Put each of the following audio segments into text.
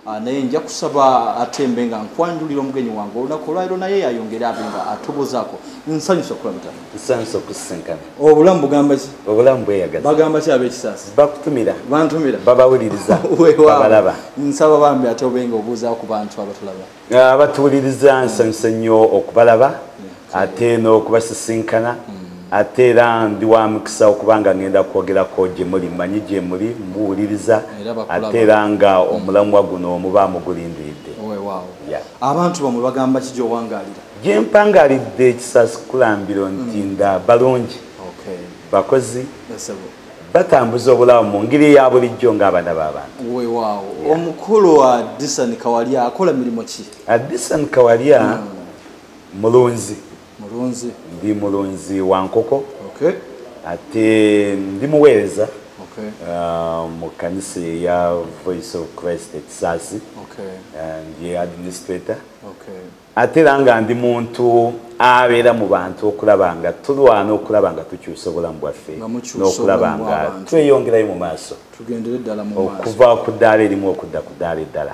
Ah, naye nja kusaba atembe nga nkwanjulira omugenyi wange olunaku olwaliro naye yayongere abe nga atubuzaako nsanyusa okulabitana nsanyusa okusinkana obulamu bugamba ki obulamu bweyagaza bagamba ki ab'ekisaasi bakutumira bantumira babawuliriza wewabalaba nsaba bambi ate obenga obuuzaako ku bantu abatulaba abatuwuliriza ah, nsanyuse nnyo okubalaba ate n'okubasisinkana ate era ndi wa mukisa okuba nga ngenda kwogerako gye muli mmanyi gye muli muwuliriza ate era nga omulamwa guno omuba mugulindiridde abantu bamwe bagamba ki gyowangalira gye mpangalidde ekisasi kulambiro nti mm. nda balungi bakozi batambuza obulamu mu ngeri eya bulijjo ng'abaana b'abantu wewaawo omukulu wa disan kawalya akola mirimu ki disan kawalya hmm. mulunzi mulunzi ndi mulunzi wa nkoko ate ndi muweereza uh, mu kanisa eya voice of christ ekisaasi ndi administrator ate era nga ndi muntu abeera mu bantu okulaba nga tulwana okulaba nga tukyusa obulamu bwaffe n'okulaba nga tweyongerayo mu maaso okuva ku ddaala erimu okudda ku ddaala eddala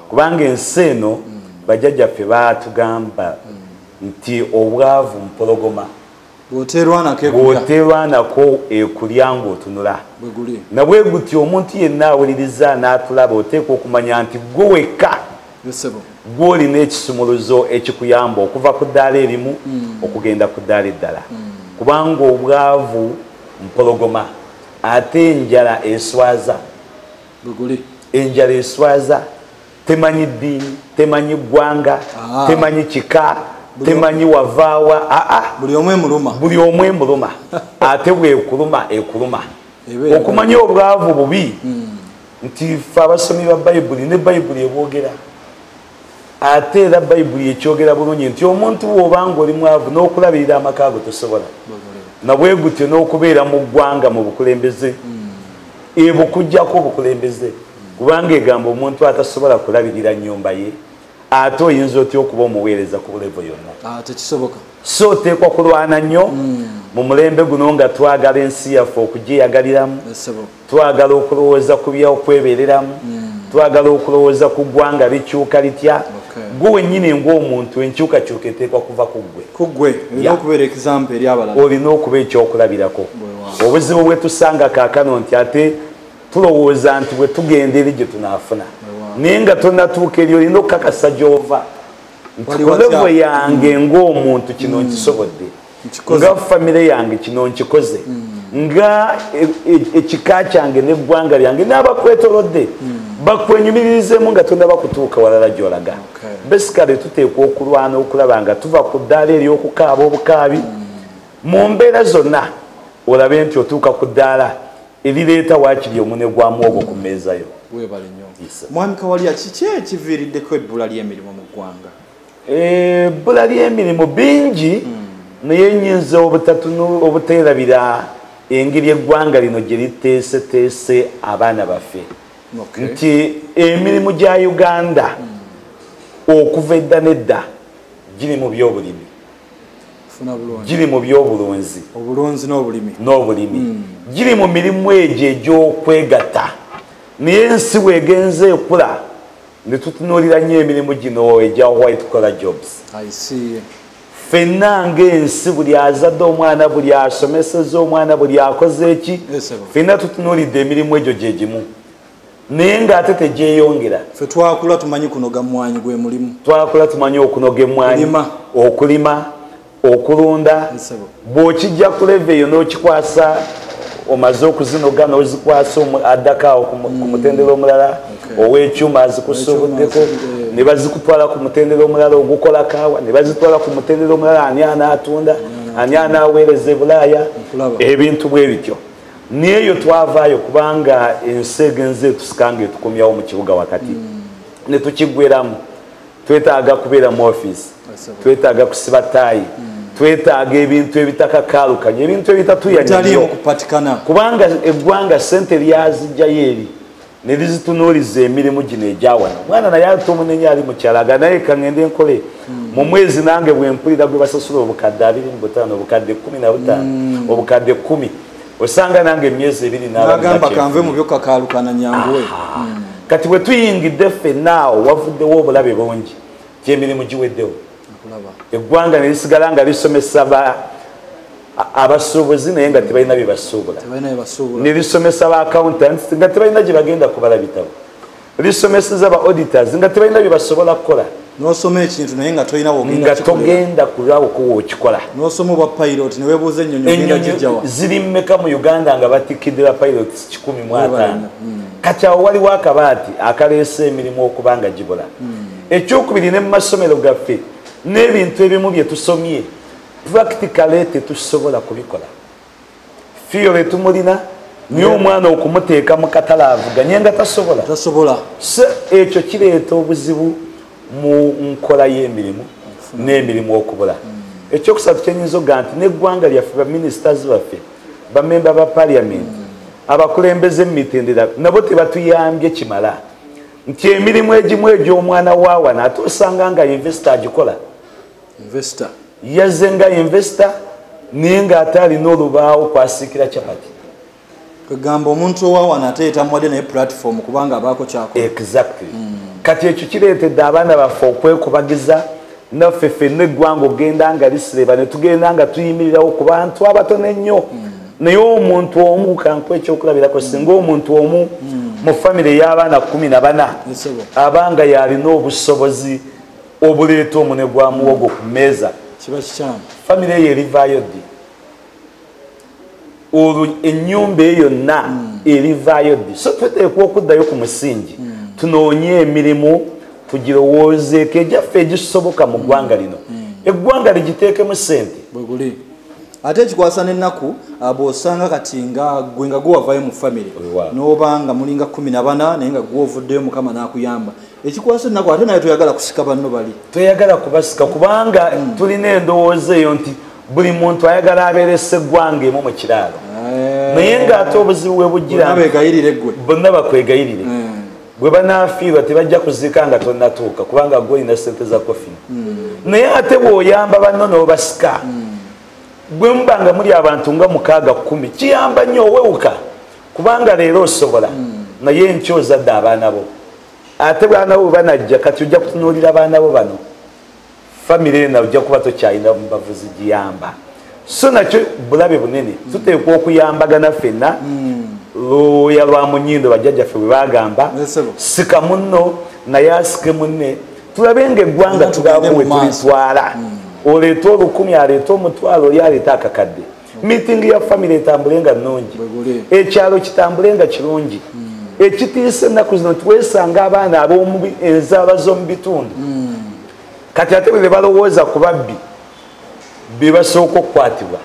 kubanga ensi eno mm. bajjajjaffe baatugamba mm. nti obwavu mpologoma bwoterwanako ekulya ngaotunula nabwe guti omuntu yenna awuliriza n'atulaba oteeka okumanya nti gwe wekka gwolina ekisumuluzo ekikuyamba okuva ku ddaala erimu hmm. okugenda ku ddaala eddala hmm. kubanga obwavu mpologoma ate enjala eswaza enjala eswaza temanyi ddiini temanyi ggwanga ah. temanyi kika temanyi wavaawa aa ah, ah. buli omu emuluma buli omu emuluma ate bwekuluma ekuluma okumanya obwavu bubi hmm. nti fe abasomi ba bayibuli ne bayibuli ebwogera ate era bayibuli ekyogera bulungi nti omuntu woobanga oli mwavu n'okulabirira amaka ago tosobola nabwe gutyo n'okubeera mu ggwanga mu bukulembeze hmm. ebukujjako obukulembeze kubanga egamba omuntu atasobola kulabirira nyumba ye ate oyinza otya okuba omuweereza ku levo yonna ah, tekisoboka so oteekwa kulwana nnyo hmm. mu mulembe guno nga twagala ensi yaffe okugyeyagaliramu twagala okulowooza ku byokwebereramu hmm. twagala okulowooza ku ggwanga likyuka litya gwe wennyini ngaomuntu enkyukakyuka eteekwa kuva ku ggwe kuggwe olina okuba ekyokulabirako obuzibu bwetusanga kaakano nti ate tulowooza nti bwe tugenda eri gye tunaafuna naye nga tonatuuka eri olina okukakasa gyova nti kulevo yange mm. ngaomuntu kino mm. nkisobodde nga famire yange kino nkikoze mm. nga e, e, ekika kyange neggwanga lyange n'abakwetolodde bakwenyumiririzemu nga tonaba kutuuka walala gyolaga besikale tuteekwa okulwana okulaba nga tuva ku ddaala ery'okukaaba obukaabi mu mbeera zonna olabe nti otuuka ku ddaala ebireeta waakiri omune gwa muwogo ku mmeeza yo weebale nnyo mwami kawalya kiki ekiviiriddeko ebbula ly'emirimu mu ggwanga eh, ebbula ly'emirimu bingi hmm. naye nyinza obuteerabira engeri eggwanga lino gye liteeseteese abaana baffe nti emirimu gya uganda hmm. okuva edda nedda giri mu byobulimi giri mu byobulunzi obulunzi n'obulimi n'obulimi hmm. giri mu mirimu egyo egy'okwegatta naye ensi wegenze ekula ne tutunuulira nnyo emirimu gino egya white collar jobs fenna ngaensi buli azadde omwana buli asomeseza omwana buli akoze eki fenna tutunuulidde emirimu egyo gye gimu naye ngaate tegyeyongera fe twakula tumanyi kunoga mwanyi gwe mulimu twakula tumanyi okunoga emwanyi okulima okulunda bwokijja kuleva eyo nokikwasa omaze okuzinoga nozikwasa addakaawo ku mm. mutendera omulala owekyuma azikusubuddeko ne bazikutwala ku mutendera omulala ogukola kaawa ne bazitwala ku mutendera omulala ani anaatunda mm. ani anaaweereza ebulaaya ebintu bwe bityo neeyo twavaayo kubanga ensi egenza etusikanga etukomyawo mu kibuga wakati mm. ne tukigweramu twetaaga kubeera mu ofiisi twetaaga kusiba taayi mm. twetaaga ebintu ebitakakaalukanya ebintu ebitatuyanyo kubanga eggwanga sente lyazijjayo eri nelizitunuuliza emirimu gino egyawano mwana naye ate omunenye ali mukyalaga naye kangende enkole mu mwezi nange bwempulira gwe basasula obukadde abiri mu butaano obukadde kumi na butaano mm. obukadde kumi osanga nange emyezi ebiri nagamba kanve mu byo kakaalukana nyanguwe mm. kati bwe tuyingidde ffe naawo wavuddewo obulabe bungi gyemirimu giweddewo eggwanga ne lisigala nga lisomesa ba abasuubuzi naye nga tebalina bye basuubula ne lisomesa ba accountants nga tebalina gye bagenda kubala bitabo lisomeseza ba auditors nga tebalina bye basobola kukola nosoma ekintu naye nga tolina nga togenda kulawukuwa okikola nosoma obwa pilot newebuuza enyonyo ziri mumeka mu uganda nga batikkidde ba pilot kikumi mwataano hmm. kati awo waliwo akabaati akaleese emirimu okuba nga gibula hmm. ekyokubiri ne mu masomero gaffe n'ebintu ebimu bye tusomye practicale tetusobola kubikola fiyole tumulina naye omwana okumuteeka mu katale avuganye nga tasobola tasobola so ekyo kireeta obuzibu mu nkola y'emirimu n'emirimu okubula hmm. ekyokusatu kyenyinza okuga nti n'eggwanga lyaffe baministers baffe bamemba ba parliament hmm. abakulembeze mu mitendera nabo tebatuyambye kimala nti emirimu egimu egy'omwana waawa naate osanga nga investo agikola yazze nga investo naye ng'ate alina olubaawo kwasiikira capati kwegamba omuntu owawa nate yetamuwadde naye platform kubanga abaako kyako exactly mm. kati ekyo kireetedde abaana baffe okwekubagiza naffe ffenna eggwanga okugenda nga lisireba ne tugenda nga tuyimirirawo ku bantu abatono ennyo mm. naye omuntu omu kanku ekyokulabirako mm. singa omuntu omu mm. mu famire ey'abaana kumi na bana abanga yalina obusobozi obuleeta omune gwa muwogo ku mmeeza famire eyo erivaayo ddi olwo ennyumba eyo yonna hmm. erivaayo ddi so tuteekwa okuddayo ku musingi hmm. tunoonye emirimu tugirowoozeeko egyaffe egisoboka mu ggwanga lino eggwanga ligiteekemu sente ate ekikwasa nenaku ah, bwosanga kati nga gwe nga gwewavayo mu famiry nobanga mulinga kumi nabana naye nga gwovuddeyo mukama nakuyamba ekikwasa ennaku ate naye toyagala kusika banno bali toyagala kubasika kubanga mm. tulina endowooza eyo nti buli muntu ayagala abeere seggwanga emu mu kiraalo eh. naye ng'ate obuzibu bwe bujjirabegayirire gwe bonna bakwegayirire mm. bwe banafiirwa tebajja kuziika nga tonatuuka kubanga gwe olina sente za kofini mm. naye ate bw'oyamba banno n'obasika mm. bwe muba nga muli abantu nga mukaaga kumi kiyamba nnyo owewuka kubanga leero osobola naye nky ozadde abaana bo ate baana bo banajja kati ojja kutunuulira baana bo bano famiry ena ojja kuba tokyalina mubavuzi giyamba so nakyo bulabe bunene tuteekwa okuyambagana fenna luuya lwa munyindo bajjajjaffe bwe bagamba sika munno naye asike munne tulabe nga eggwanga tugakuwe tulitwala hmm. oleeta olukumi aleeta omutwalo oli aleeta akakadde meeting ya family etambule nga nnungi ekyalo kitambule nga kirungi hmm. ekitiisa ennaku zino nti weesanga abaana ab'enzaala z'omu bitundu hmm. kati ate bwe be balowooza ku babbi be basooka okukwatibwa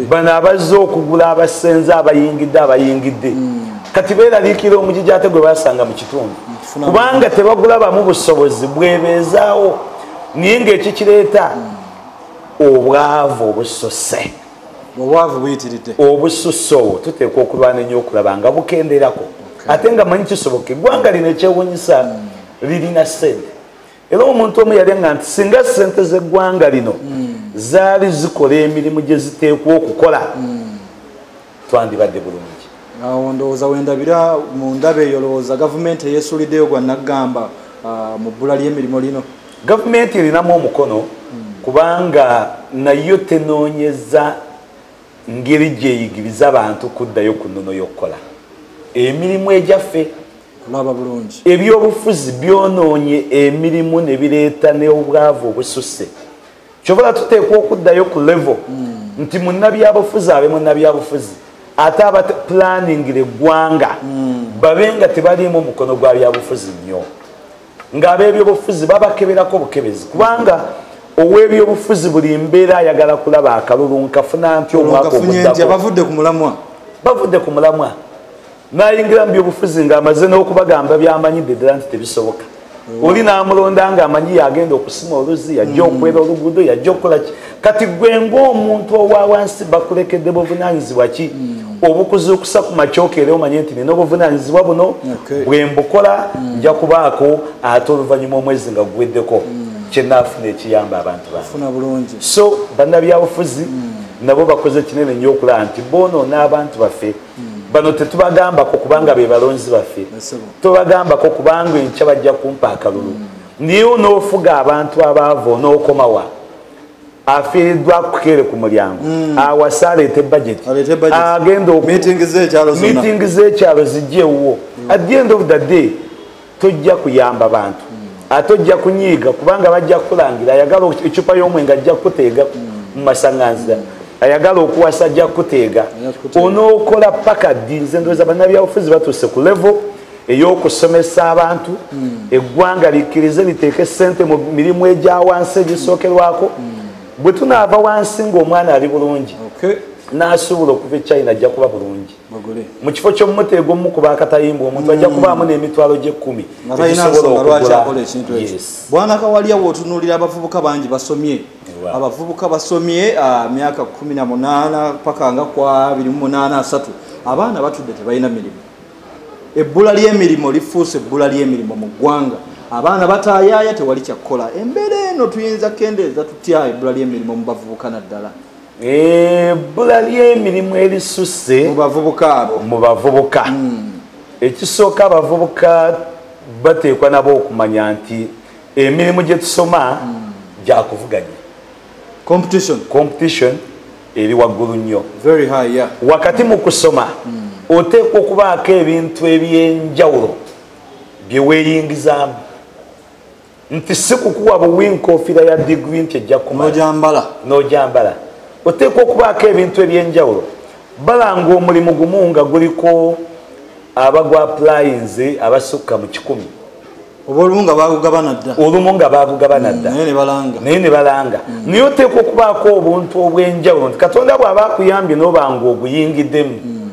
bano abazze okugula abasenze abayingidde abayingidde hmm. kati beeraliikira omujiji ate gwe basanga mu kitundu kubanga tebagulabamu busobozi bwebeezaawo naye ngaekikireeta obwavu obususse obwavu buyitiridde obususse obwo tuteekwa okulwana ennyo okulaba nga bukenderako ate nga manyi kisoboka eggwanga lino ekyewunyisa hmm. lirina sente era omuntu omu yali nga nti singa sente z'eggwanga lino hmm. zaali zikola emirimu gye ziteekwa okukola hmm. twandibadde bulungi awo ndowooza wendabira mu ndaba eyo lowooza gavumenti eyesuliddeyo gwa naggamba ah, mu bbula ly'emirimu lino gavumenti erinamu omukono hmm. kubanga nayo tenoonyeza ngeri gyeyigiriza abantu kuddayo ku nnono y'okukola emirimu egyaffe kulaba bulungi ebyobufuzi byonoonye emirimu ne bireeta n'obwavu obususse kyovala tuteekwa okuddayo ku levo mm. nti munabyabufuzi abe munabyabufuzi ate aba planningira eggwanga mm. babe nga tebaliimu mukono gwa byabufuzi nnyo ng'ab'ebyobufuzi babakeberako bukebezi kubanga ow'ebyobufuzi buli mbeera ayagala kulaba akalulu nkafuna nti omwaka oguddako bavudde ku mulamwa nayingira mu byobufuzi ng'amaze n'okubagamba byamanyidde ddala nti tebisoboka mm. oli n'amulonda ng'amanyi yagenda okusima oluzzi yajja mm. okwera oluguudo yajja okukola ki kati gwe ng'omuntu owawansi bakulekedde buvunanyizibwa ki mm. obukuzuukusa ku makyokeera omanye nti nina obuvunanyizibwa buno bwe mbukola nja kubaako ate oluvannyuma omwezi nga guweddeko kyenaafuna ekiyamba abantu bange so bannabyabufuzi nabo bakoze kinene nnyo okulaba nti boonoona abantu baffe bano tetubagambako kubanga be balonzi baffe tobagambako kubanga enkya bajja kumpa akalulu mm. naye onoofuga abantu abaavu onookomawa afiiriddwa kukeere ku mulyango mm. awase aleete bajeti agenda miitingi z'ekyalo zijja ewuwo mm. at the end of the day tojja kuyamba bantu ate ojja kunyiiga kubanga bajja kukulangira ayagala ecupa y'omwenge ajja kukuteega mu masaŋanzira ayagala okuwasa ajja kukuteega onookola paka ddi nze ndowooza bannabyabufuzi batuuse ku levo ey'okusomesa abantu hmm. eggwanga likkirize liteeke ssente mu mirimu egya wansi egisookerwako hmm. bwe tunaava wansi ng'omwana ali bulungi n'asuubula okuva e china ajja kuba bulungi mu kifo ky'omuti egwomu kuba akatayimbwa omuntu ajja mm. kubaamu n'emitwalo gy'ekkumi bwana kawalya wootunuulira abavubuka bangi basomye abavubuka basomye ah, myaka kumi na munaana paka nga kwa abiri mu munaana asatu abaana batudde tebalina mirimu ebbula ly'emirimu lifuuse ebbula ly'emirimu mu ggwanga abaana bataayaaya tewali kyakukola embeera eno tuyinza kendeeza tutya ebbula ly'emirimu mu bavubuka naddala ebbula eh, ly'emirimu erisusse mu bavubuka abo mu bavubuka hmm. ekisooka abavubuka bateekwa nabo okumanya nti emirimu gye tusoma hmm. gya kuvuganya competition competition eri waggulu nnyo very high yeah wakati mu kusoma hmm. oteekwa okubaako ebintu eby'enjawulo bye weeyingizaamu nti sikukuwa buwi nkofiira ya digiri nti ejja kumanojambala nojambala oteekwa okubaako ebintu ebyenjawulo balanga omulimu gumu nga guliko abagwa aplayinze abasukka mu kikumi olumu nga bagugabana dda olumu nga bagugabana dda mm, naye ne balanga mm. naye oteekwa okubaako obuntu obwenjawulo nti katonda bw'aba akuyambye n'obanga oguyingiddemu mm.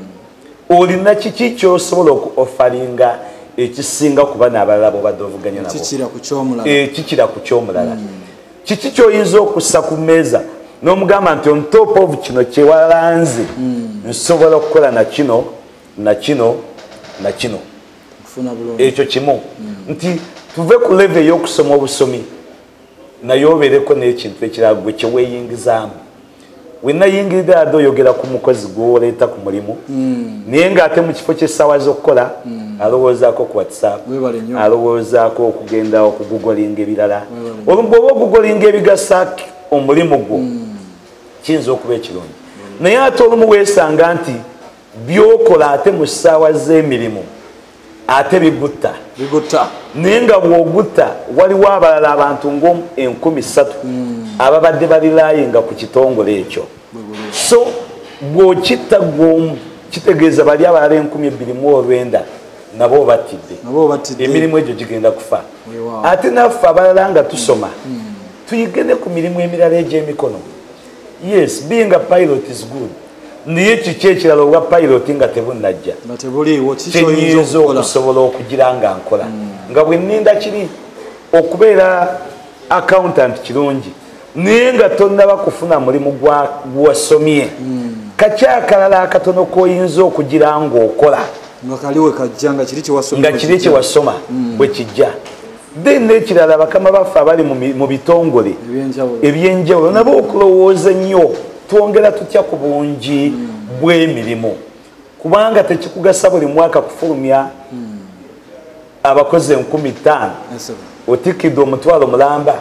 olina kiki kyosobola oku offalinga ekisinga kuba nabalala bobadde ovuganya nabokikira ku kyomulala eh, hmm. kiki kyoyinza okussa ku meeza nomugamba nti on top of kino kyewalanze hmm. nsobola okukola nakino nakino nakino ekyo kimu hmm. nti tuve ku leve eyokusoma obusomi naye obeereko n'ekintu ekirala gwe kye weeyingizaamu wenayingirira ade oyogera ku mukozi gwoleeta ku mulimu hmm. naye ngaate mu kifo kyessaawa z'okukola hmm. alowoozaako ku whatsapp alowoozaako okugenda okugugolinga ebirala olubwa oba ogugolinga ebigasa omulimu gwo hmm. kiyinza okuba ekirungi naye ate olumu weesanga nti byokola ate mu ssaawa z'emirimu ate bigutta bigutta naye nga bw'ogutta waliwo abalala abantu ng'enkumi ssatu hmm. ababadde balilaaye nga ku kitongole ekyo so bw'okitta gw'omu kitegeeza bali abalala enkumi ebbiri mu olwenda nabo obattidde emirimu egyo gigenda kufa ate naffe abalala nga tusoma hmm. tuyige ne ku mirimu emirala egy'emikono yes being a pilot is good naye kiki ekirala obwa pilot nga tebunajja kyenyinza okusobola okugira nga nkola hmm. nga bweninda kiri okubeera accountant kirungi naye nga tonaba kufuna mulimu gwasomye hmm. kakyakalala akatono koyinza okugira ngaokola nga kiri kyewasoma hmm. bwekijja then nekirala bakama baffe abali mu bitongole ebyenjawulo nabo okulowooza ennyo twongera tutya ku bungi bw'emirimu kubanga tekikugasa buli mwaka kufulumya abakozi enkumi ttaano otikidde omutwalo mulamba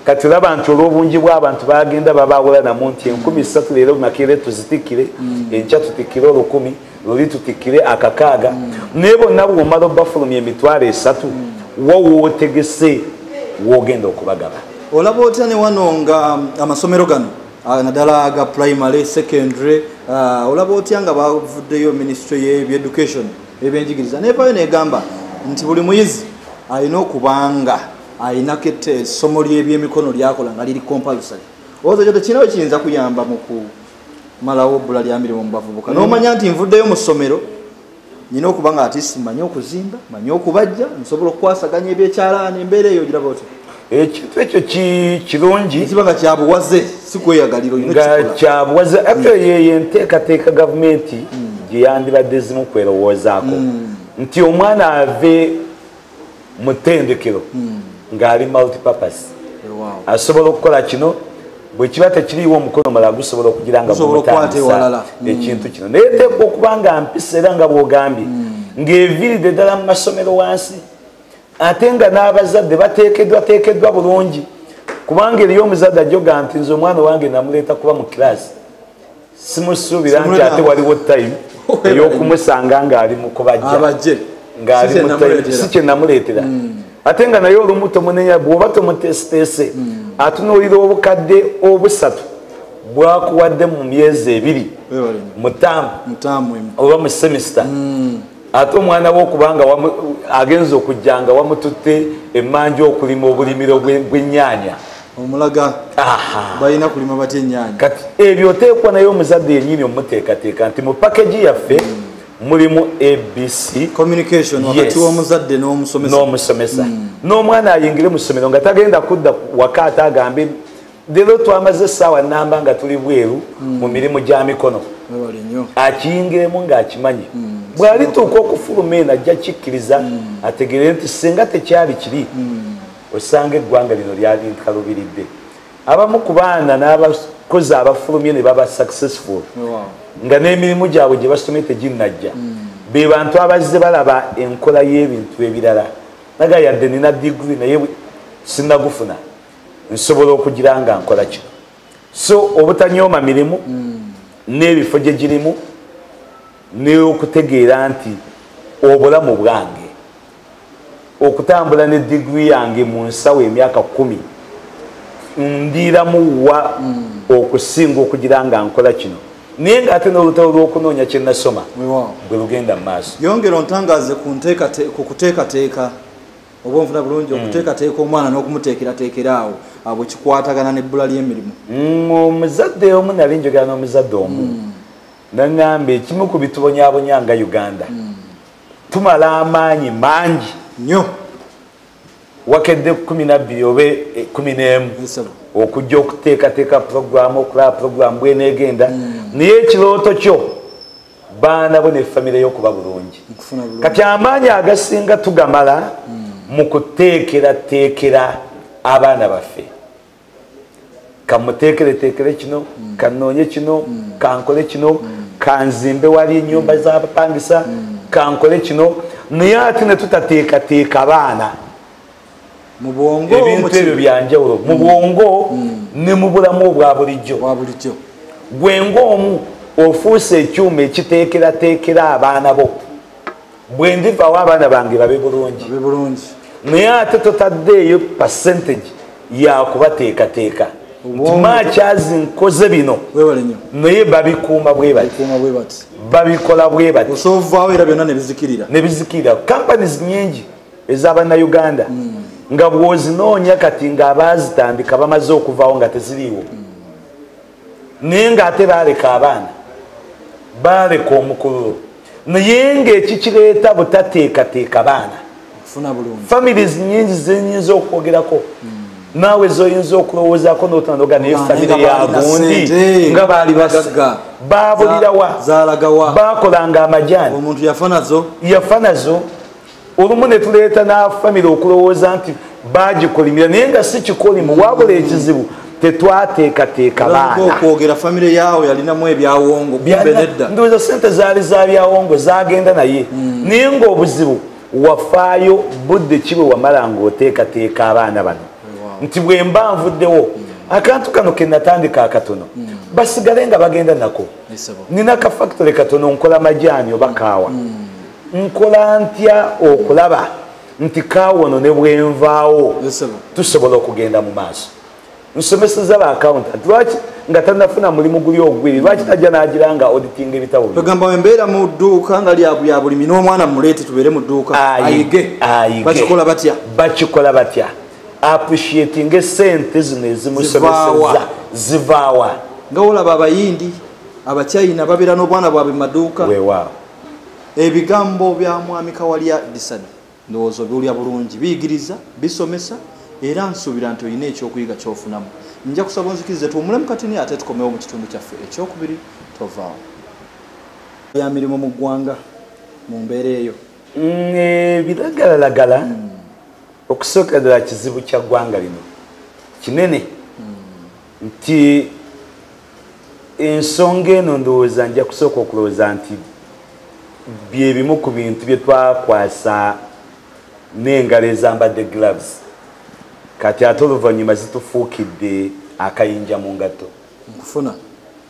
kati laba nti olw'obungi bw'abantu bagenda babaawulanamu nti enkumi ssatu leero makeere tuzitikire enkya tutikire olukumi luli tutikire akakaaga mm. naye bonna bwomala obafulumya emitwalo esatu mm. wo wootegese wogenda okubagaba olaba otya ne wano nga um, amasomero gano uh, naddala ga primary secondary uh, olaba otya nga bavuddeyo ministry yebyeducation ebyenjigiriza nevayo negamba nti buli muyizi alina okubanga alinako essomo lyebyemikono lyakola nga liri compulsory ozo kyo tekirinawe kiyinza kuyamba muku malawo obbula lya mirimu mu bavubuka n'omanya nti nvuddeyo mu ssomero nyina okuba nga ati simanyi okuzimba manyi okubajja nsobola okukwasaganya ebyekyalaani embeera eyo giraba otya ekintu ekyo kirungi kiba nga kyabuwaze sikweyagaliro nga kyabuwaze ate mm. yeyo enteekateeka gavumenti mm. gyeyandibadde zimu kwerowoozaako mm. nti omwana ave mu ttendekero hmm. ng'ali multipurpose asobola okukola kino bwe kiba tekiriiwo omukono mala gusobola okugira nga gumutandisa hmm. ekintu kino naye teekwa okuba nga mpisa era nga bwogambye hmm. ng'eviiride ddala mu masomero wansi ate nga n'abazadde bateekeddwa teekeddwa bulungi kubanga eriyo omuzadde ajjoga nti nze omwana wange namuleeta kuba mu kiraasi simusuubira nti ate waliwo time eyokumusanga ngaali mukubajja ngaali sikyenamuleetera hmm. ate nga naye olumu tomunenya bwoba tomutesiteese hmm. atunuulira obukadde obusatu bwakuwadde mu myezi ebiri mutamu oba mu semesita hmm. ate omwana we okubanga agenza okujja nga wamututte emanju okulima obulimiro bwenyaanya omulaga balina kulima batya enyaanya kati ebyo oteekwa naye omuzadde yenyini omuteekateeka nti mu pakagi yaffe mm. mulimu abc communication wakati womuzadde nomusomesa n'omwana ayingire mu ssomero nga tagenda kudda waka ate agambe lero twamaze esaawa namba nga tuli bweru mm. mu mirimu gya mikono akiyingeemu ng'akimanyi mm. bw'alituuka okufuluma eno ajja kikkiriza mm. ategeere nti singa tekyali kiri mm. osanga eggwanga lino lyali nkalubiridde abamu ku baana n'abakozi abafulumye ne baba successful nga n'emirimu gyabwe gye basomye teginnajja mm. be bantu abazze balaba enkola y'ebintu ebirala naga yadde nina digiri naye sinagufuna nsobola okugira nga nkola kino so obutanyooma mirimu mm. n'ebifo gye girimu n'okutegeera nti obulamu bwange okutambula ne digiri yange mu nsawo emyaka kumi ndiiramu wa mm. okusinga okugira nga nkola kino naye ngaate nolutalo lwokunoonya kyenasoma bwe lugenda mu maaso yongera ontangaze ku kuteekateeka oba onfuna bulungi mm. okuteekateeka omwana n'okumuteekerateekera awo abo kikwatagana n'ebbula ly'emirimu mm, omuzadde omu nali njogera n'omuzadde omu mm. naŋŋamba ekimu ku bitubonyabonya nga uganda tumala amaanyi mangi nnyo wakedde kumi nabbiri oba e, e, kumi n'emu okujja okuteekateeka puroguramu okulaba puroguramu bweneegenda naye ekirooto kyo baana bo ne famire yo okuba bulungi kati amaanyi agasinga tugamala hmm. mu kuteekerateekera abaana baffe kamuteekereteekere kino hmm. kanoonye kino hmm. kankole kino kanzimbe wali enyumba zabapangisa kankole kino naye ate ne tutateekateeka baana mubwongo ebintu ebyo byanjawulo mu bwongo mm. ne mu bulamu obwa bulijjo gwe ngaomu ofuuse ekyuma ekiteekerateekera abaana bo bwe ndivawo abaana bange babe bulungi naye ate totaddeeyo percentage yakubateekateeka ntimakyazi nkoze bino naye babikuuma bwe bati babikola bwe bati nebizikirira kampanies nyingi ezabannauganda mm. nga bwozinoonya kati nga abaazitandika bamaze okuvawo nga teziriiwo mm. naye nga ate baaleka abaana baaleka omukululo naye nga ekikireeta butateekateeka baana families nyingi zenyinza okwogerako mm. naawe zoyinza okulowoozako notanoga naye famire yagundi nga baali babulirawa bakolanga amajaani yafanazo olumu ne tuleeta n'afamire okulowooza nti bagikolimira naye nga si kikolimu wabula ekizibu tetwateekateeka baanaokwogera famire yaawo yalinamu ebyawongo ndowooza sente zaali za byawongo zagenda naye hmm. naye ngaobuzibu wafaayo budde kibwe wamala ngaoteekateeka abaana bano nti bwe mba nvuddewo hmm. akantu kano kenatandika akatono hmm. basigale nga bagenda nako nina kafactory katono nkola majaani oba kaawa nkola ntya okulaba nti kawono ne bwenvaawo tusobola okugenda mu maaso nsomeseza ba accountant lwaki nga tanafuna mulimu guli ogwiri lwaki tajja nagira nga auditing ebitabo tugamba wembeera mu dduuka nga lyabya bulimi n'omwana muleete tubeere mu dduuka ayige bakikola batya bakikola batya appreciating esente zino ezimusomeseza zivaawa nga olaba abayindi abachina babeera n'obwana bwabwe mu maduuka wewaawo ebigambo bya mwami kawalya disani ndowooza obiwulya bulungi biyigiriza bisomesa era nsuubira nti olina ekyokuyiga kyofunamu nja kusaba onzikirize tuwumulemu katini ate tukomewo mu kitundu kyaffe ekyokubiri tovaawo ya mirimu mu ggwanga mu mbeera eyo mm, ebiragalalagala hmm. okusooka ddala kizibu kya ggwanga lino kinene hmm. nti ensonga eno ndowooza nja kusooka okulowooza nti byebimu ku bintu bye twakwasa n'engalo ezambadde gloves kati ate oluvannyuma zitufuukidde akayinja mu ngatto nkufuna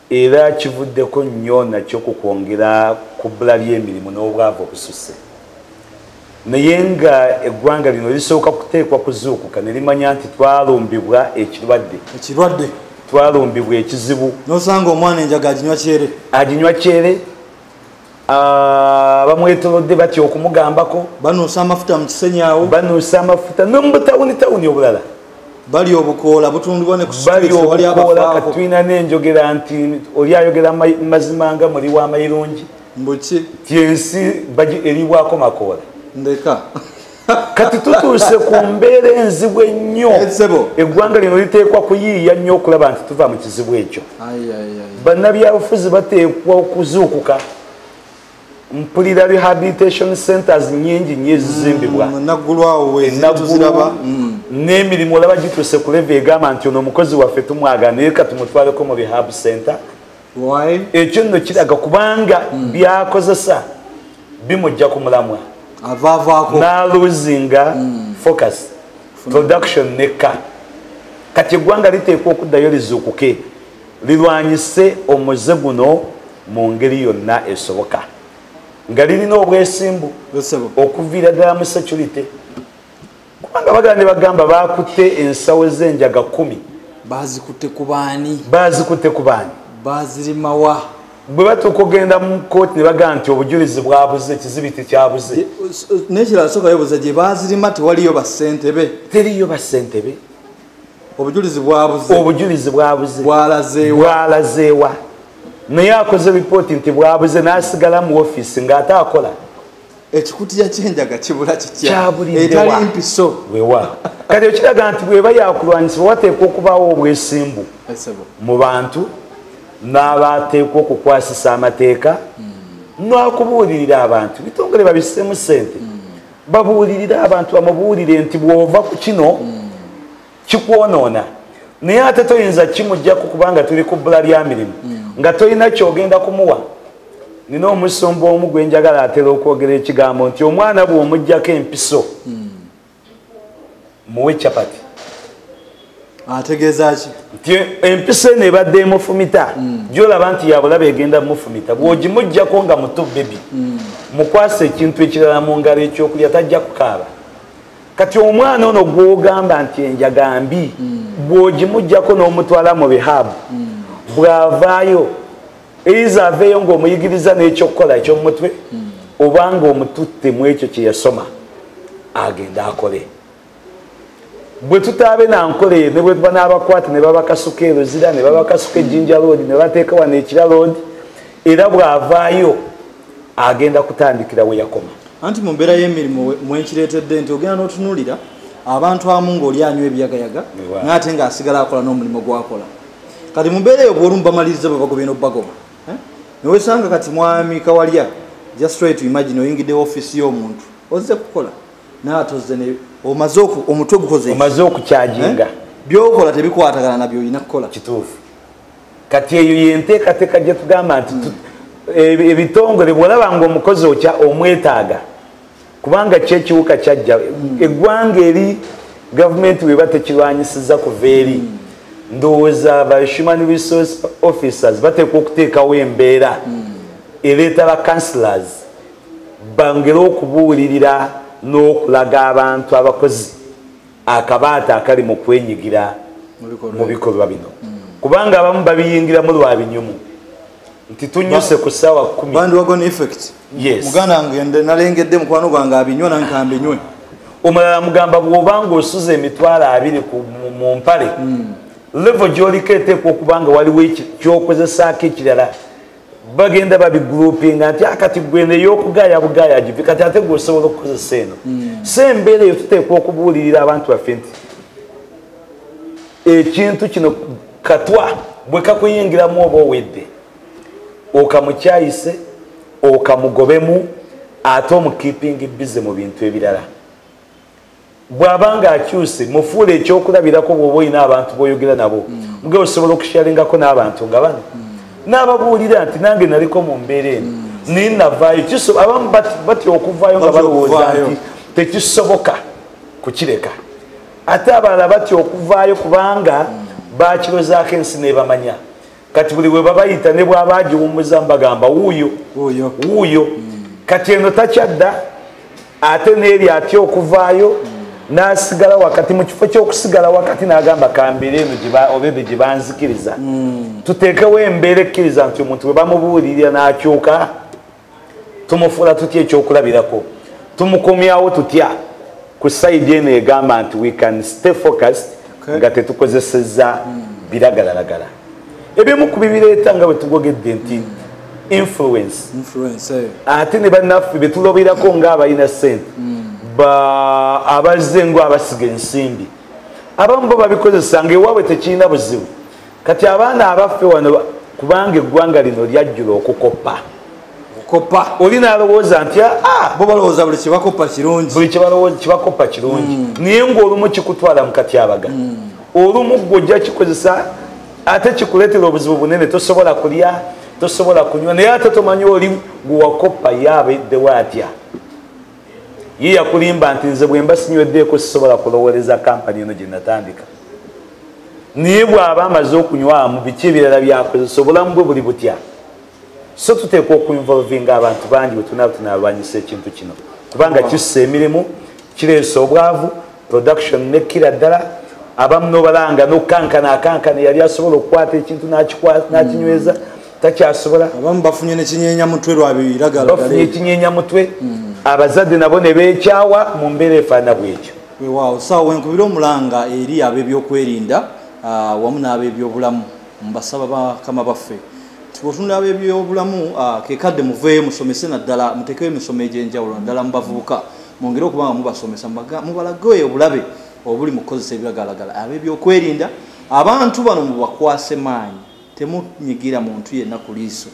era kivuddeko nnyo nakyo ku kwongera ku bbula ly'emirimu n'obwavu obususse naye nga eggwanga lino lisooka kuteekwa kuzuukuka ne limanya nti twalumbibwa ekirwadde ekirwadde twalumbibwa ekizibu nosanga omwana enjaga aginywa kyere aginywa kyere Ah, bamwetolodde batya okumugambako banuusa amafuta mu kisenyi awo banuusa amafuta nomubutawuni tawuni obulala bali obukoola butundibwa nekubaliobukoolakatulina nenjogera nti oli ayogera mazima nga muli wa mayirungi mbuki ti ensi eribwako makoola ndeka kati tutuuse ku mbeera enzibu ennyo eggwanga lino liteekwa kuyiiya nnyo okulaba nti tuva mu kizibu ekyo bannabyabufuzi bateekwa okuzuukuka mpulira rehabilitation centers nyingi nyo ezizimbibwa mm, enaggulwawo mm. n'emirimu olaba gituuse ku leve egamba nti ono omukozi waffe tumwagana naye katumutwaleko mu rehab center ekyo nno kiraga kubanga hmm. byakozesa bimujja ku mulamwa naluzinga hmm. focus production nekka kati eggwanga liteekwa okuddayo lizuukuke lirwanyise omuze guno mu ngeri yonna esoboka nga lirina obwesimbu okuviira ddala mu security kubanga bagala ne bagamba bakutte ensawo z'enjaga kumi bazikutte ku baani bazikutte ku baani bazirimawa bwe batuuka ogenda mu kooti ne bagamba nti obujulizi bwabuze ekizibi tekyabuze nekirala soka yobuza gye bazirima tewaliyo basentebe teriyo basentebe obujulizi bwabuze obujulizi bwabuze bwalazeewa naye akoze ripooti nti bwabuze n'asigala mu ofiisi ng'ate akola ekikutiya kyenjaga kibula kikyabulitalimpiso wewa kati ekiraga nti bweba yakulwanyisibwa wateekwa okubaawo obwesimbu mu bantu n'abateekwa okukwasisa amateeka hmm. n'okubuulirira abantu bitongole babisemu sente hmm. babuulirire abantu bamubuulire nti bw'ova ku kino hmm. kikwonoona naye ate toyinza kimujjaku kubanga tuli ku bbula lya mirimu mm. nga tolina kyogenda kumuwa nina omusumba omu gwe njagala atera okwogera ekigambo nti omwana bw'omugjako empiso mm. muwe capati ategeeza ki nti empiso eno ebadde emufumita mm. gyolaba nti yabulaba egenda mufumita bw'ogimuggyako nga muto bebi mukwasa ekintu ekirala mu ngalo ekyokulya tajja kukaaba kati omwana ono gwogamba nti enjaga mbi bwogimugjako n'omutwala mu rehab bwavaayo eiza aveeyo ng'omuyigiriza n'ekyokukola ekyomumutwe obanga omututte mu ekyo kye yasoma agenda akole bwe tutaabe na nkola eyo ne bwe tuba n'abakwate ne babakasuka eruzira ne babakasuka ejjinja loodi ne bateeka wano ekira loodi era bw'avaayo agenda kutandikira we yakoma anti mu mbeera y'emirimu mwenkireetedde nti ogenda n'otunuulira abantu amu ng'oli anywa ebiyagayaga naye ate ng'asigala akola n'omulimu gwakola kati mu mbeera eyo bw'olumu bamaliriza bwe bagobye n'obubagoba eh? newesanga kati mwami kawalya just try to imagine oyingidde ofiisi y'omuntu ozze kukola naatozze ne omaze omutwe gukoze omaze okukyaginga eh? byokola tebikwatagana nabyo olina kukola kituufu kati eyo yenteekateeka gye tugamba nti hmm. ebitongole bwolaba nga omukozi okya omwetaaga kubanga kyekiwuka kyajja hmm. eggwanga eri gavumenti weba tekirwanyisiza kuva eri hmm. ndowooza ba human resource officers bateekwa okuteekawo embeera ereeta ba councilors bangere okubuulirira n'okulaga abantu abakozi akabaata akali mu kwenyigira mu bikolwa bino kubanga abamu babiyingiramu lwa binyumu nti tunyuse ku ssaawa kumuganda ngende nalengedde mukwano gwange abinywa nankambinywe omulala mugamba bwoba nga osuza emitwalo abiri mu mpale hmm. levo gyoliko eteekwa okubanga waliwo kyokozesaako ekirala bagenda babigroupinga nti akati ah, gweno eyokugaaya bugaaya givi kati ate gwe osobola okukozesa eno hmm. so embeera eyo tuteekwa okubuulirira abantu baffe nti ekintu kino katwa bwe kakuyingiramu oba owedde okamukyayise okamugobemu ate omukipingi bize mu bintu ebirala bw'aba ng'akyuse mufuula ekyokulabirako bw'oba olina abantu b'oyogera nabo mm. muge osobola okusharingako n'abantu nga bano mm. n'ababuulira nti nange naliko mu mbeera eno mm. naye navaayo abamu batya okuvaayo nga balowooza nti tekisoboka kukireka ate abalala batya okuvaayo kubanga bakirozaako ensi nebamanya kati buli webabayita ne bwaba agiwummuza mbagamba wuuyo wuuyo mm. kati eno takyadda ate neeri atya okuvaayo mm. nasigala wakati mu kifo kyokusigala wakati nagamba kambira eno obebe gye banzikiriza mm. tuteekewo embeera ekkiriza nti omuntu bwe bamubuulirira n'akyuka tumufuula tutya ekyokulabirako tumukomyawo tutya ku saidi eno egamba nti we can stay focused nga tetukozeseza biragalalagala ebimu ku bibireeta nga bwetugogedde nti influence eh. ate ne bannaffe betuloberako ngaabalina sente hmm. abazze ngo abasiga ensimbi abamu bo babikozesa ngaewaabwe tekirina buzibu kati abaana abaffe wano kubanga eggwanga lino lyajjula okukoppa okukoppa oli nalowooza nti ah, ah. bo balowooza buli kibakoppa kirungi buli kibakoppa kirungi mm. naye ngaolumu kikutwala mu katyabaga mm. olumu gwe ojja kikozesa ate kikuleetera obuzibu bunene tosobola kulya tosobola kunywa naye ate tomanyi oli gwewakoppa ye abeddewo atya ye yakulimba nti nze bwemba sinyweddeko sisobola kulowooleza kampani eno gye natandika naye bw'aba amaze okunywamu biki ebirala byakozesa obulamu bwe buli butya so tuteekwa okuinvolvinga abantu bangi bwe tunaaba tunaalwanyisa ekintu kino kubanga kissa emirimu kireesa obwavu production nekkira ddala abamu nobalanga nokukankana akankana yali asobola okukwata ekintu nakinyweza mm. takyasobola abamu bafunye nekinyenya mutwe lwabiragalabafunye ekinyenya mutwe hmm. abazadde nabo ne bekyawa mu mbeera efaana bwekyo wewaawo saawa wenkubira omulanga eri ab'ebyokwerinda ah, wamu n'ab'ebyobulamu mbasaba bakama baffe otunula abebyobulamu ah, kekadde muveeyo musomese naddala mutekewo emisomo egyenjawulo naddala mubavubuka mwongere okuba nga mubasomesa mubalageyo obulabe obuli mu kukozesa ebiragalagala abebyokwerinda abantu bano mubakwase maanyi Temunyigira muntu yenna ku liiso.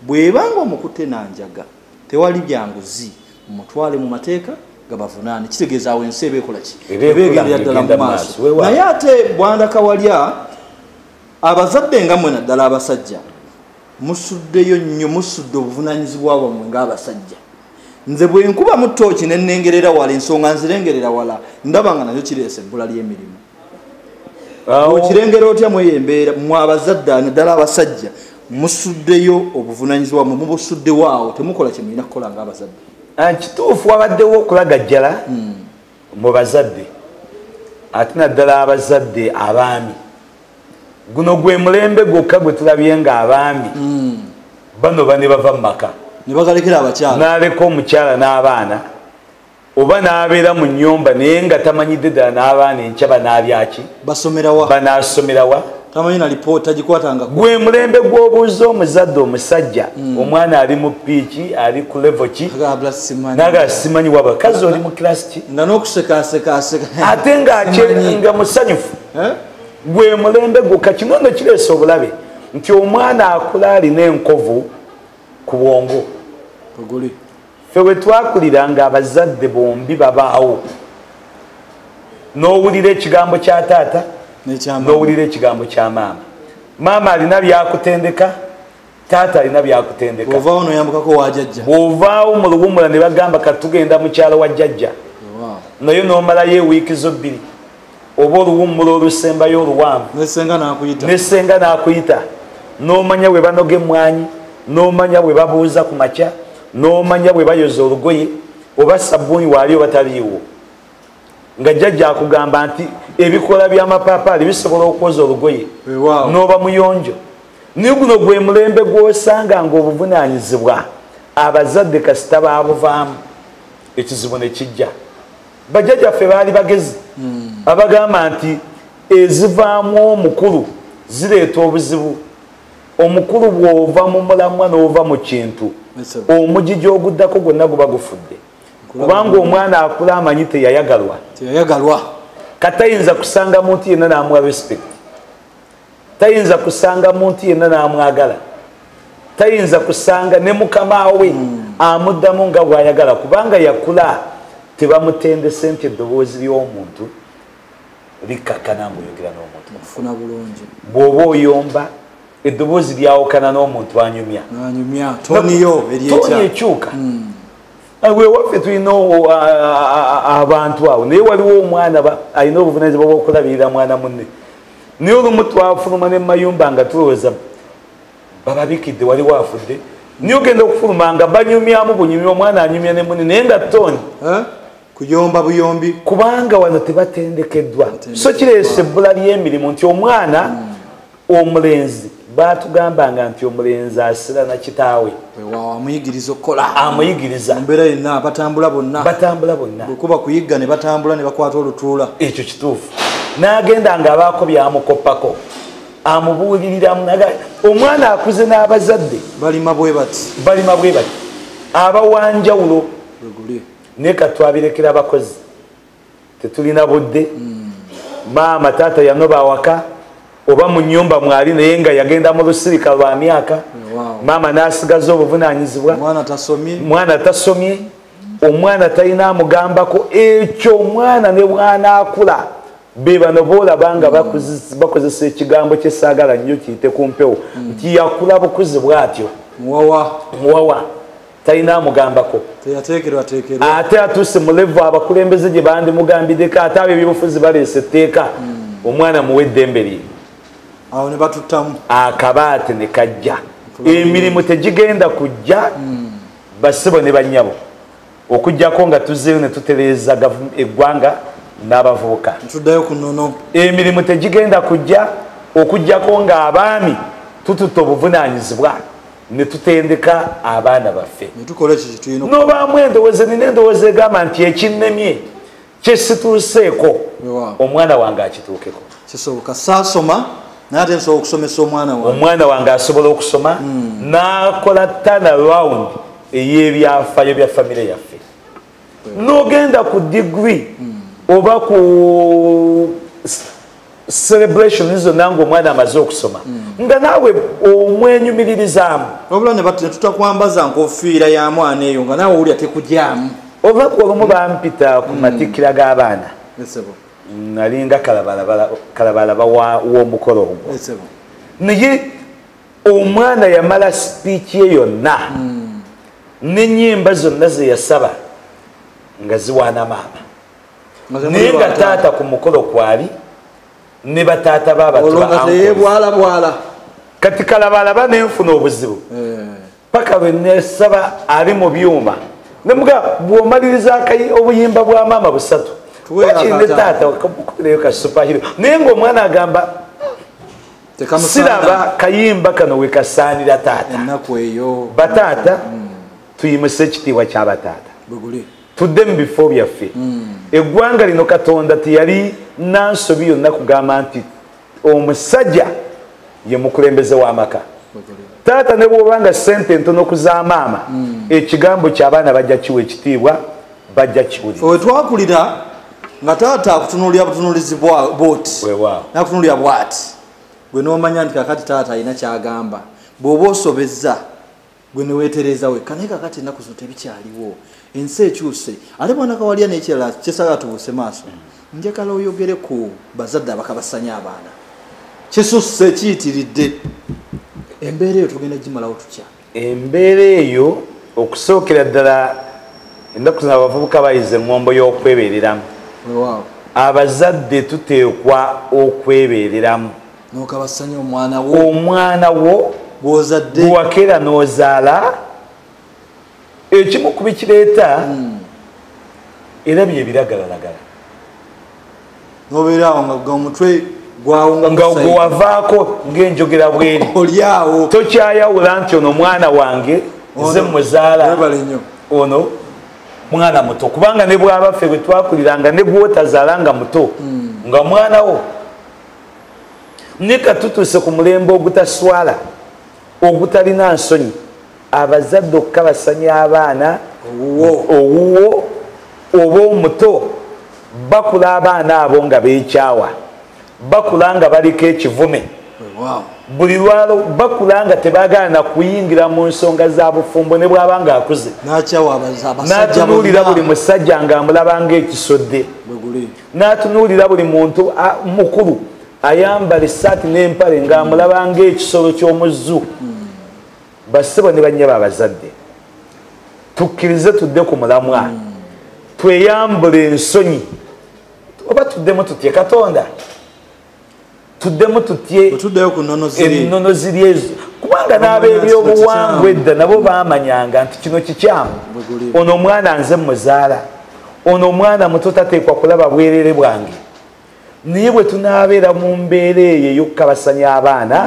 Bw'eba ng'omukutte na njaga, tewali bya nguzi, mumutwale mu mateeka gabavunaane. Kitegeeza awo ensi eba ekola ki? Eba egendera ddala mu maaso. Naye ate Bwanda Kawalya, abazadde nga mwe naddala abasajja, musuddeyo nnyo, musudde obuvunaanyizibwa bwammwe ng'abasajja. Nze bwe nkubamu ttooki ne nnengerera wala, ensonga nzirengerera wala, ndaba nga nayo kireese ebbula ly'emirimu. okirengera otya mweyo embeera mwe abazadde naddala abasajja musuddeyo obuvunanyizibwa mwe mubusuddewo awo temukola kyemulina kukola nga abazadde ah, kituufu wabaddewo okulagajjala hmm. mu bazadde ate naddala abazadde abaami guno gwe mulembe gwokka gwe tulabye nga abaami hmm. bano bane bava mu maka nebagalekera abakyala naleka omukyala n'abaana oba nabeera mu nyumba naye nga tamanyidde ddala n'abaana enkya banaabyaki basomerawa banaasomerawa tamanyi na lipoota gikwatanga gwe mulembe gw'obuuza omuzadde omusajja hmm. omwana ali mu piiki ali ku levo ki naga simanyi waba kazi oli mu kilasi ki nga n'okusekaasekaaseka ate nga musanyufu eh? gwe mulembe gwo kakinono kireesa obulabe nti omwana akula alina enkovu ku bwongo ffe we twakulira nga abazadde bombi babaawo n'owulira ekigambo kya taata n'owulira ekigambo kya maama maama alina byakutendeka taata alina byakutendeka ovaawo noyambukako wa jajja ovaawo mu luwumula ne bagamba katugenda mukyalo wa jajja naye nomalayo ewiiki zo bbiri oba oluwummula olusembayo oluwanvu nesenga nakuyita nomanya bwe banoga emmwanyi nomanya bwe babuuza ku makya nomanya bwe bayoza olugoye oba sabbuuni waali oba taliiwo nga jjajja akugamba nti ebikola byamapaapaali bisobola okwoza olugoye noba muyonjo naye guno gwe mulembe gwosanga nga obuvunanyizibwa abazadde kasita babuvaamu ekizibu nekijja bajjajja ffe baali bagezi hmm. abagamba nti ezivaamu omukulu zireeta obuzibu omukulu bw'ova mu mulamwa n'ova mu kintu omugigi oguddako gwonna guba gufudde kubanga omwana akula amanyi teyayagalwa katayinza kusanga muntu yenna n'amuwa respect tayinza kusanga muntu yenna n'amwagala tayinza kusanga ne mukama we hmm. amuddamu nga bw'ayagala kubanga yakula tebamutendese nti eddoboozi ly'omuntu likkakkana ngaoyogera n'omuntu mufuna bulungi bw'oba oyomba eddoboozi lyawukana n'omuntu anyumya anyumya toniyo ekyuka hmm. Ah, wewaffe tulina abantu awo naye waliwo omwana alina obuvunanyizibwa bwokulabirira mwana munne naye olumu twafuluma ne mayumba nga tulowooza bababikidde wali waafudde naye ogenda okufuluma nga banyumyamu bunyumi omwana anyumya ne muni naye nga toni kuyomba buyombi kubanga wano tebatendekeddwa so kireesa ebbula ly'emirimu nti omwana hmm. omulenzi batugambanga nti omulenzi asira na kitaawe amuyigiriza okukola amuyigiriza mbeera yenna batambula bonna batambula bonna bwekuba kuyigga ne batambula ne bakwata olutuula ekyo kituufu n'agenda nga abaako byamukoppako amubuuliriramu naga omwana akuze n'abazadde balima bwe bati balima bwe bati abawanjawulo naye katwabirekera abakozi tetulina budde maama taata yanoba awaka oba mu nyumba mwali naye nga yagenda mu lusirika lwa myaka maama n'asigaza obuvunanyizibwa mwana tasomye omwana talina amugambako ekyo omwana ne bwanaakula be bano boolaba nga bakozesa ekigambo kyesaagala nnyo kiyite ku mpewo mm. nti yakula bukuzi bw'atyo muwawa talina amugambako ate atuuse mulevu abakulembeze gye bandimugambideko ate abo ebyobufuzi baleese etteeka hmm. omwana muwe eddembe lye awo ne batuttamu akabaate ne kajja emirimu tegigenda kujja hmm. basibo ne bannyabo okujjako nga tuzeeyo ne tutereeza eggwanga n'abavubuka tuddayo ku nono emirimu tegigenda kujja okujjako ng'abaami tututte obuvunaanyizibwa netutendeka abaana baffe nobaamu endowooza nina endowooza egamba nti ekinnemye kyesituuseeko omwana wange akituukeko kisoboka saasoma naye ate nsobola okusomesa omwana wange omwana wange asobola okusoma hmm. n'akola tana round ey'ebyafayo bya famire yaffe nogenda ku degree oba ku celebration zonna ngaomwana amaze okusoma hmm. nga naawe omwenyumiririzaamu obula netutakwambaza nkofiira ya mwana eyo nga naawe owulira tekugyamu olunaku olumu bampita ku hmm. matikkira g'abaana nalinga kalabalaba w'omukolo ogwo naye omwana yamala sipiiki ye yonna hmm. nenyemba zonna zeyasaba nga ziwaana maama naye nga taata ku mukolo kwali ne bataata babatbwalabwala kati kalabalaba nenfuna obuzibu eh. paka lwenesaba ali mu byuma nemuga bwomaliriza kai obuyimba bwa maama busatu wakirine taata okubirayo kasupahiro naye ngaomwana agamba siraba kayimba kano wekasaanira taata bataata mm. tuyimuse ekitiibwa kya bataata tudde mu bifo byaffe mm. eggwanga lino katonda teyali nansobi yonna kugamba nti omusajja ye mukulembeze w'amaka taata ne bwoba nga sente ntono kuza maama mm. ekigambo kyabaana bajja kiwa ekitiibwa bajja kiwulira nga taata akutunulira butunulizi bot nakutunulira bwati gwe nomanya nti kakati taata alina kyagamba bwoba osobezza gwe newetereza wekka naye kakati enaku zino tebikyaliwo ensi ekyuse ate bwanakawalya nekirala kyesaga tubuse maaso mm. njagala oyogere ku bazadde abakabasanya abaana kisusse kiyitiridde embeera eyo tugenda gimalawo tutya embeera eyo okusookera ddala ennaku zina abavubuka bayize eŋŋombo y'okwebeereramu abazadde tuteekwa okwebeereramu omwana wo gwewakeera n'ozaala ekimu ku bikireeta hmm. era byebiragalalagala nobeera awo nga omutwe nga gwewavaako ngaenjogera bweri olyawo tokyayawula nti ono mwana wange nze mwezaala ono mwana muto kubanga ne bwabaffe bwe twakuliranga ne bwotazaala nga muto hmm. nga mwana wo ne katutuuse ku mulembe ogutaswala ogutalina nsonyi abazadde okukabasanya abaana owuwo oba omuto bakula abaana abo nga bekyawa bakula nga baliko ekivume buli lwalo bakula nga tebagala nakuyingira mu nsonga za bufumbo ne bwaba nga akuze natunuulira buli musajja nga amulaba nga ekisodde natunuulira buli muntu mukulu ayambala esaati n'empale nga amulaba nga ekisolo ky'omuzzu hmm. bassebo ne bannyabo abazadde tukkirize tudde ku mulamwa mm. tweyambule ensonyi oba tuddemu tutye katonda tuddemu tutye ennono ziri ezo kubanga n'ab'ebyobuwangwa edda nabo baamanyanga nti kino kikyamu ono omwana nze muzaala ono omwana muto tateekwa kulaba bwerere bwange naye bwe tunaabeera mu mbeera eyo ey'okukabasanya abaana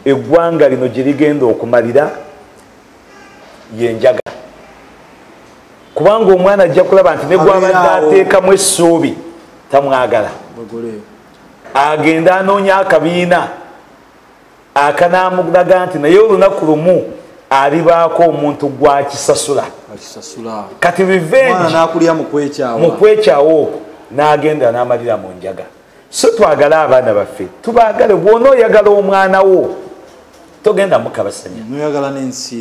eggwanga lino gye ligenda okumalira yenjaga kubanga omwana ajja kulaba nti negwabadde ateekamu essuubi tamwagala agende anoonya akabiina akanamulaga nti naye olunaku lumu alibaako omuntu gwakisasula kati rivengemukwekyawo okwo nagenda namalira mu njaga so twagale abaana baffe tubagale bwona oyagala omwana wo togenda mukabasanya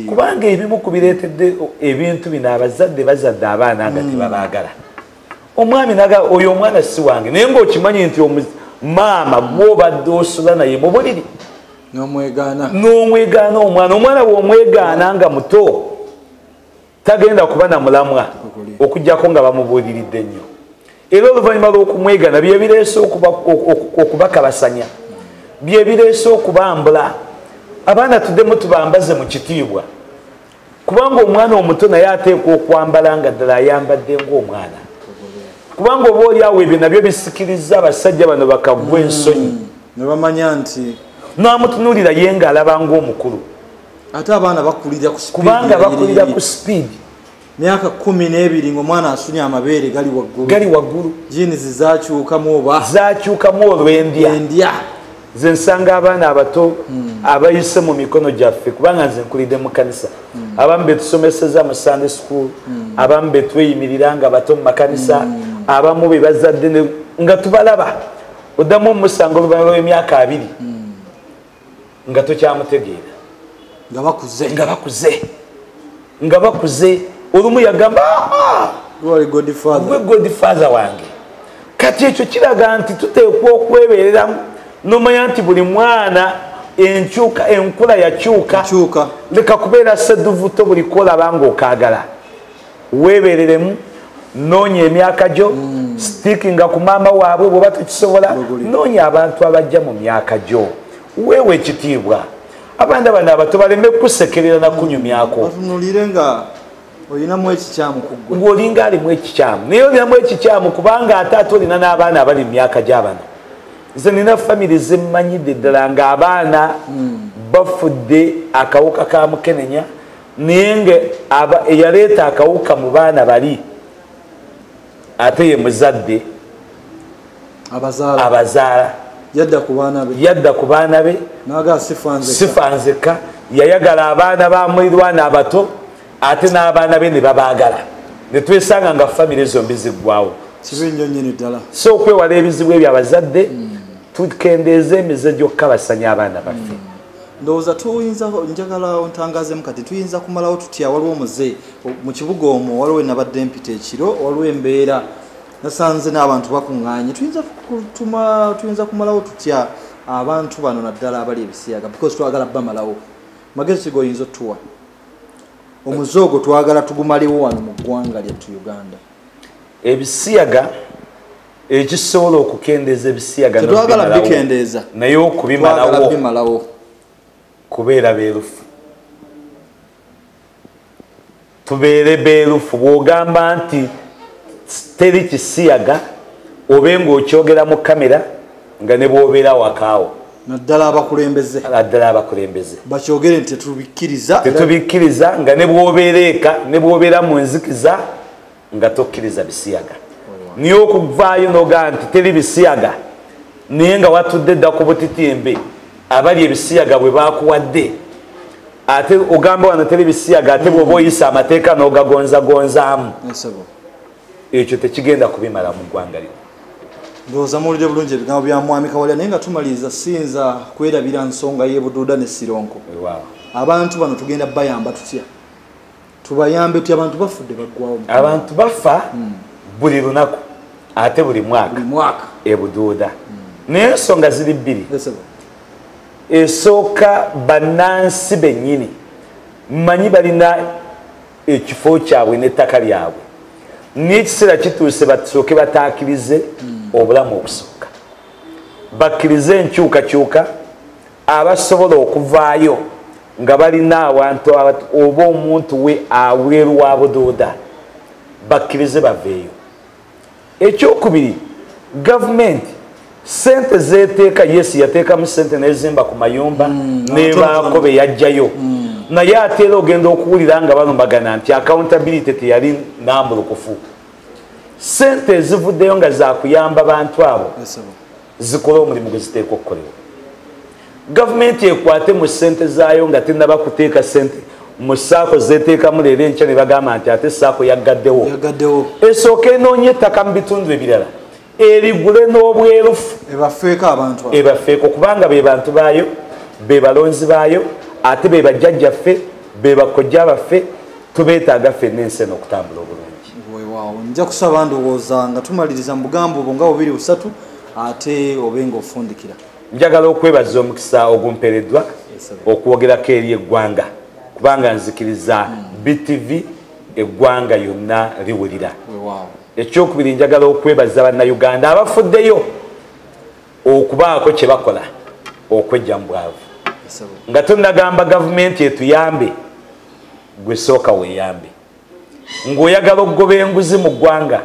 kubanga ebimu kubiretedde ebintu bino abazadde bazadde abaana nga mm. tebabagala mm. omwami naga oyo omwana si wange naye ngaokimanyi nti maama gwobadde osula naye mubuliri nomwegaana omwana omwana womwegaana nga muto tagenda kuba na mulamwa okujjako nga bamubuuliridde nnyo era oluvannyuma lwokumwegana byebireese okubakabasanya byebireese okubambula abaana tuddemu tubambaze mu kitiibwa kubanga omwana omuto naye ateekwa okwambala nga ddala ayambadde ngaomwana kubanga oba oli awo ebyo nabyo bisikiriza abasajja bano bakagwa hmm. ensonyi nebamanya nti namutunulira ye nga alaba ngaomukulu ate abaana bakulira kubanga bakulira ku sipiidi myaka kumi n'ebiri ngaomwana asunye amabeere gali waggulu gali waggulu jinizi zakyukamu oba zakyukamu olwendya nze nsanga abaana abato hmm. abayise mu mikono gyaffe kubanga nze nkulidde mu kanisa hmm. abamu betusomeseza mu sunday school hmm. abamu betweyimirira nga bato mu makanisa abamu be bazadde nga tubalaba oddamu omusango oluvannyuma lw'emyaka abiri nga tokyamutegeera nga bakuze nga bakuze olumu yagamba ah, ah, godfather wange kati ekyo kiraga nti tuteekwa okwebereramu nomanya nti buli mwana enkyuka enkula yakyuka leka kubeera seduvuto buli kolaba nga okagala webereremu noonya emyaka gyo mm. stikinga ku maama waabwe bweoba tekisobola noonya abantu abajja mu myaka gyo weewa ekitiibwa abaana bano abato baleme kukusekerera nakunyumyako batunulire nga olinamu ekikyamu kuggwe ng'olinga alimu ekikyamu naye olinamu ekikyamu kubanga ate ate olina n'abaana abali mu myaka gy'abana nze nina famiry zemmanyidde ddala ng'abaana hmm. bafudde akawuka ka mukenenya naye nga eyaleeta akawuka mu baana bali ate ye muzadde abazaala yadda ku baana be sifa nzekka yayagala abaana ba mulirwana abato ate n'abaana be ne babaagala ne twesanga nga famire zombi ziggwawo so okwewala ebizibu ebyo abazadde hmm. tukendeeza emize gy'okukabasanya abaana baffe hmm. ndowooza tuyinza njagala ntangazemu kati tuyinza kumalawo tutya waliwo muze mu kibuga omwo waliwo enabadde mpita ekiro waliwo embeera nasanze n'abantu bakuŋŋaanye tuyinza kutuma tuyinza kumalawo tutya abantu bano naddala abali ebisiyaga because twagala bamalawo magezi kiga oyinza otuwa omuze ogwo twagala tugumalewo wano mu ggwanga lyattu uganda ebisiyaga ekisobola okukendeeza ebisiyagantwagala bikendeeza naye okubimalawo kubeera beerufu tubeere beerufu bw'ogamba nti teri kisiyaga obe ng'okyogera mu kamera nga ne bw'obeera wakaawo naddala abakulembeze naddala abakulembeze bakyogere nti tetubikkiriza tetubikkiriza nga ne bw'obeera eka ne bw'obeera mu nzikiza nga tokkiriza bisiyaga naye okuvaayo nogaa nti teri bisiyaga naye nga watudde dda ku butitimbe abali ebisiyaga bwe bakuwadde ate ogamba wano teri bisiyaga ate bwoba oyisa amateeka n'ogagonzagonzaamu ekyo tekigenda kubimala mu ggwanga lino ndowooza muwulire bulungi ebigambo bya mwami kawalya naye nga tumaliriza siyinza kwerabira nsonga y'ebuduuda ne sironko abantu bano tugenda bayamba tutya tubayambe ti abantu bafudde baggwawo abantu bafa hmm. buli lunaku ate buli mwaka ebuduuda hmm. naye ensonga ziri bbiri esooka bannansi bennyini mmanyi balina ekifo kyabwe n'ettaka lyabwe n'ekiseera kituuse basooke bataakirize hmm. obulamu obusooka bakkirize enkyukakyuka abasobola okuvaayo nga balina awantu oba omuntu we aweeru wa budooda bakkirize baveeyo ekyokubiri gavumenti sente zeteeka yes yateekamu sente nezimba ku mayumba mm, nebaako be yajjayo mm. naye ate era ogenda okuwulira nga balumbagana nti accountability teyali nambulukufu sente ezivuddeyo nga zakuyamba bantu abo zikole omulimu gwe ziteeka okukolebwa gavumenti ekwate mu ssente zaayo nga tenaba kuteeka ssente mu saako zeteekamu leero enkya ne bagamba nti ate saako yaggaddewo esooka enoonya ettaka mu bitundu ebirala erigule n'obwerufu ebafeeko kubanga be bantu baayo be balonzi baayo ate be bajjajjaffe be bakojja baffe tubeetaaga ffenna ensi eno okutambula obulungi weewaawo nja kusaba ndowooza nga tumaliriza mu bugambo obwo nga bubiri busatu ate obe nga ofundikira njagala okwebaza omukisa ogumpeereddwa okwogerako eri eggwanga kubanga nzikiriza hmm. btv eggwanga yonna liwulira ekyokubiri njagala okwebaza bannayuganda abafuddeyo okubaako kye bakola okwejja mu bwavu nga tonagamba gavumenti etuyambe gwe sooka weeyambe ng'oyagala okugoba enguzi mu ggwanga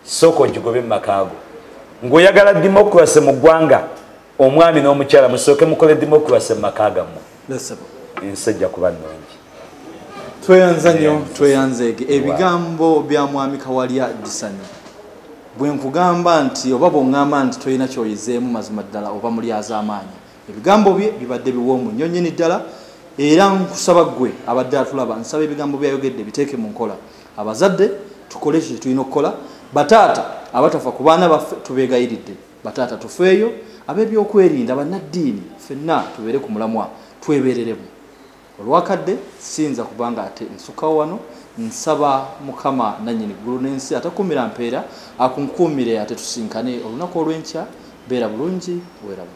sooka ogigobe mu makaago ng'oyagala democracy mu ggwanga omwami n'omukyala musooke mukole democracy mu maka gammwe ensi ejja kuba nnungi tweyanza nnyo tweyanzeege ebigambo bya mwami kawalya disanyo bwe nkugamba nti oba bw'oŋŋamba nti tolina kyoyizeemu mazima ddala oba mulyaz'amaanyi ebigambo bye bibadde biwoomu nnyo nyini ddala era nkusaba ggwe abadde atulaba nsaba ebigambo byayogedde biteeke mu nkola abazadde tukole ekyo kyetulina okukola bataata abatafa ku baana baffe tubeegayiridde bataata tufeeyo ab'ebyokwerinda bannaddiini fenna tubeere ku mulamwa twebeereremu olwakadde siyinza kuba nga ate nsukawo wano nsaba mukama nanyini ggulu n'ensi atakuumira mpeera akunkuumire atetusinkane olunaku olw'enkya beera bulungi weeramu